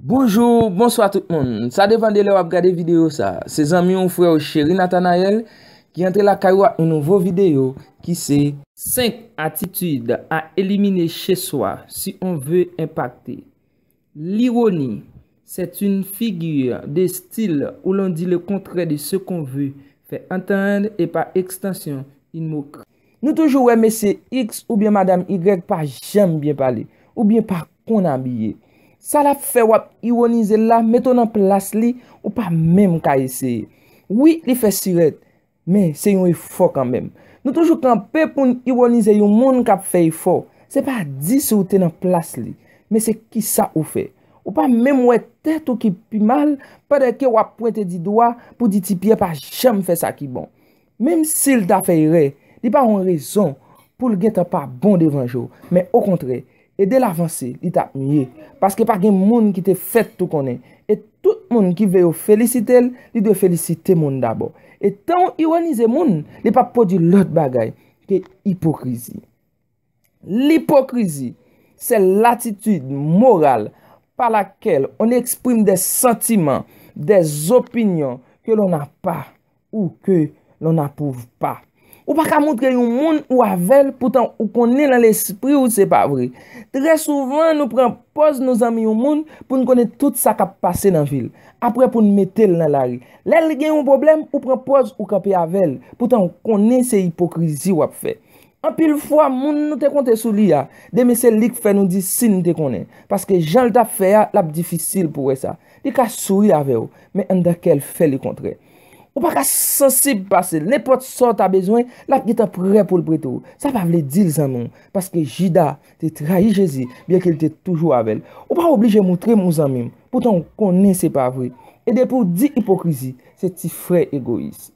Bonjou, bonswa tout moun. Sa depan de lè wap gade videyo sa. Se zanmi ou frè ou Cheri Nathanael ki antre lakay ou ak yon nouvo videyo ki se. 5 atitid a elimine che swa si on ve enpakte. Lironi, c'est une figure de style où l'on dit le contraire de ce qu'on veut faire entendre et par extension, une moquerie. Nou toujou wè mesye X oubyen madam Y pa janm byen pale, oubyen pa konn abiye. Sa l ap fè w ap iwonize l la, mete w nan plas li, ou pa menm ka eseye. Wi, li fè sirèt, men se yon efò kanmenm. Nou toujou kanpe pou n iwonize yon moun k ap fè efò. Se pa di si w te nan plas li, men se kisa ou fè. Ou pa menm wè tèt ou ki pi mal, pandan ke w ap pwente di dwa pou di ti Pyè pa janm fè sa ki bon. Menm si l ta fè erè, li pa yon rezon pou l gentan pa bon devan je w. Men okontrè, ede l avanse li t ap mye. Paske pa gen moun ki te fèt tou konnen. E tout moun ki vle yo felisite l, li dwe felisite moun dabò. E tan w ironize moun, li p ap pwodui lòt bagay ke ipokrizi. Lipokrizi se latitid moral pa lakèl on eksprime de santiman, de zopinyon ke lon a pa ou ke lon a pouv pa. Ou pa ka moutre yon moun ou avèl poutan ou konnen lan lespri ou se pa vre. Trè souvan nou pran pòz nou zanmi yon moun pou n konnen tout sa kap pase nan vil. Aprè pou n metel nan lari. Lè l gen yon pwoblèm ou pran pòz ou kanpe avèl poutan ou konnen se ipokrizi wap fè. Anpil fwa moun nou te konte sou li a, demen se li k fè nou di si n te konnen. Paske jan l t ap fè a, l ap difisil pou wè sa. Li ka souri avè w, men anndan kè l fè lekontrè. Ou pa ka sansib pase l. Nenpòt sa w ta bezwen, l ap gentan prè pou l prete w. Sa pa vle di l zanmi w, paske Jida te trayi Jezi, byenke l te toujou avè l. Ou pa oblije montre m ou zanmi m, poutan w konnen se pa vre. E depi w di ipokrizi, se ti frè egoyis.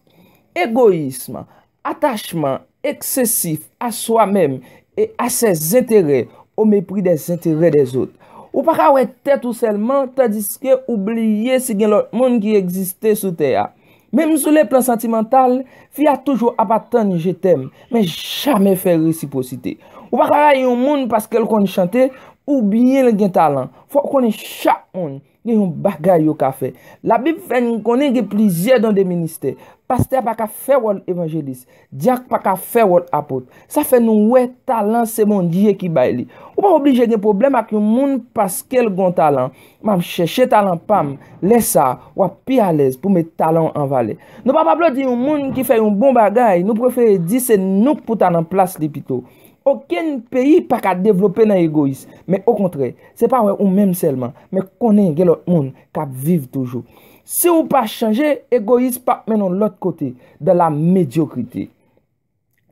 Egoyism, Atachman eksesif a swa menm e a sè zenterè o mepri dè zenterè dè zot. Ou pa ka wè tèt ou sèlman tandiske ou bliye si gen lòt moun ki egziste sou tè a. Menm sou le plan santimantal, fi a toujou ap atann je tèm, men jamè fè resipwosite. Ou pa ka rayi yon moun paske l konn chante oubyen l gen talan. Fò w konnen chak moun. Gen yon bagay yo ka fè. Labib fè n konnen gen plizyè don de ministè. Pastè pa ka fè wòl evanjelis. Dyak pa ka fè wòl apot. Sa fè nou wè talan se Bondye ki bay li. Ou pa oblije gen pwoblèm ak yon moun paske l gon talan. M ap chèche talan pa m. Lè sa a, w ap pi alèz pou met talan w an valè. Nou p ap aplodi yon moun ki fè yon bon bagay, nou prefere di se nou k pou ta nan plas li pito. Okenn peyi pa ka devlope nan egoyis, men okontrè, se pa wè ou menm sèlman, men konnen gen lòt moun k ap viv toujou. Si ou pa chanje, egoyis p ap mennen w lòt kote, dans la médiocrité.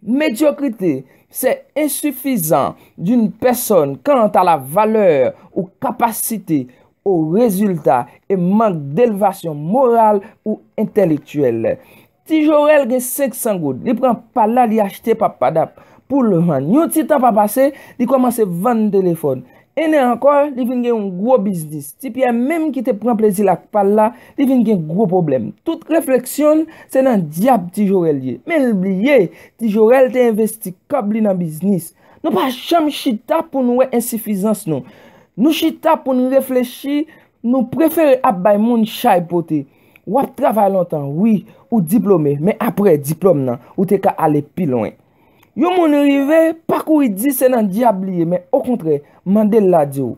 Medyokrite, se ensifizan d'une pèsòn kant a la valè ou kapasite ou rezilta e mank delvasyon moral ou entèlektyèl. Ti jorèl gen 500 goud li pran pal la li achte pap padap poul vann yon ti tan pa pase li kòmanse vann telefòn 1 an ankò li vin gen yon gwo biznis ti pyè menm ki te pran plezil ak pal la li vin gen gwo pwoblèm tout refleksyonl se nan dyab ti jorèl ye menl bliye ti jorèl te envesti kòb li nan biznis nou pa janm chita poun wè ensifizans nou nou chita poun reflechi nou prefere ap bay moun chay pote. Wap travay lontan wi, ou diplome, men apre diplome nan, ou te ka ale pi lwen. Yon moun rive, pa kouri di se nan dyab li ye, men okontrè, mande l la di w.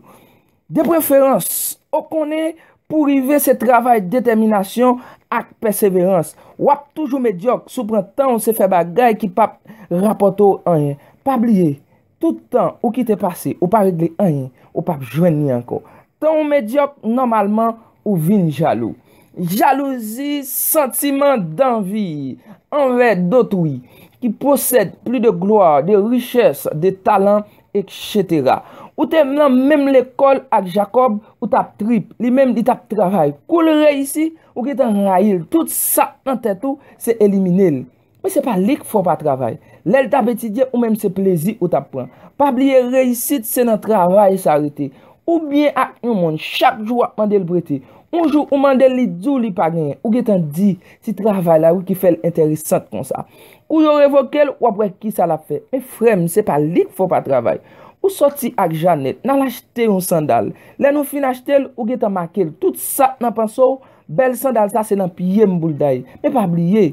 De preferans, ou konnen, pou rive se travay detèminasyon ak pèseverans. Wap toujou medyòk si w pran tan w se fè bagay ki pap rapòte w anyen. Pa bliye, Tout tan ou kite pase, ou pa regle anyen, ou pap jwenn li ankò. Tan ou medyòk, nòmalman, ou vin jalou. Jalouzi, santiman danvi anvè dotwi, ki posèd pli de glwa, de richès, de talan, eksetera. Ou te nan menm lekòl ak Jakòb, ou t ap trip, li menm li t ap travay. Kou l reyisi, ou gentan rayi l. Tout sa k nan tèt ou, se elimine l. Men se pa li k fè w pa travay. Lè l t ap etidye, ou menm se plezi ou t ap pran. Pa bliye reyisit se nan travay sa rete. Ou byen ak yon moun, chak jou w ap mande l prete. Yon jou ou mande l li di w li pa genyen. Ou gentan di, se travay la wi ki fè l enteresant konsa. Kou yo revoke l, w ap wè kisa l ap fè. Men frè m, se pa li k fè w pa travay. Ou soti ak Janèt, n al achte yon sandal. Lè nou fin achte l, ou gentan make l. Tout sa k nan panse w, bèl sandal sa se nan pye m pou l daye. Men pa bliye,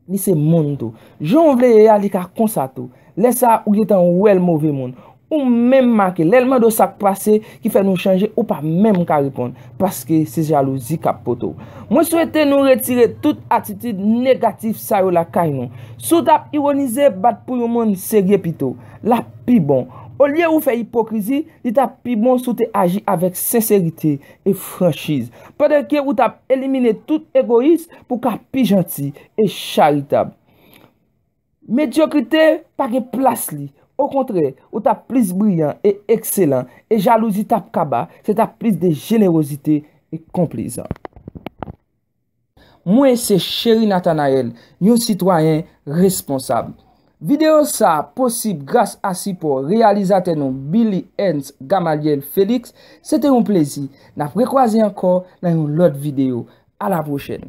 Li se moun tou. Jan ou vle ye a, li ka konsa tou. Lè sa a, ou gen tan wè l move moun. Ou menm make. Lè l mande w sa k pase ki fè nou chanje, ou pa menm ka reponn. Paske se jalouzi k ap pote w. Mwen swete nou retire tout atitid negatif sa yo lakay nou. Si w t ap iwonize, bat pou yon moun serye pito. L ap pi bon. Olye ou fè ipokrizi, li t ap pi bon si w te aji avèk senserite. e franchiz, pandan ke ou tap elimine tout egoyis pou ka pi janti e charitab. Medyokrite pa gen plas li, okontrè, ou tap plis briyan e ekselan, e jalouzi tap kaba, se tap plis de jenerozite e konplezan. Mwen se Chery Nathanaël, yon sitwayen responsab. Videyo sa a posib gras a sipò reyalizatè nou Billy Ernst Gamaliel Felix, se te yon plezi, n ap rekwaze ankò nan yon lòt videyo. A la pwochèn!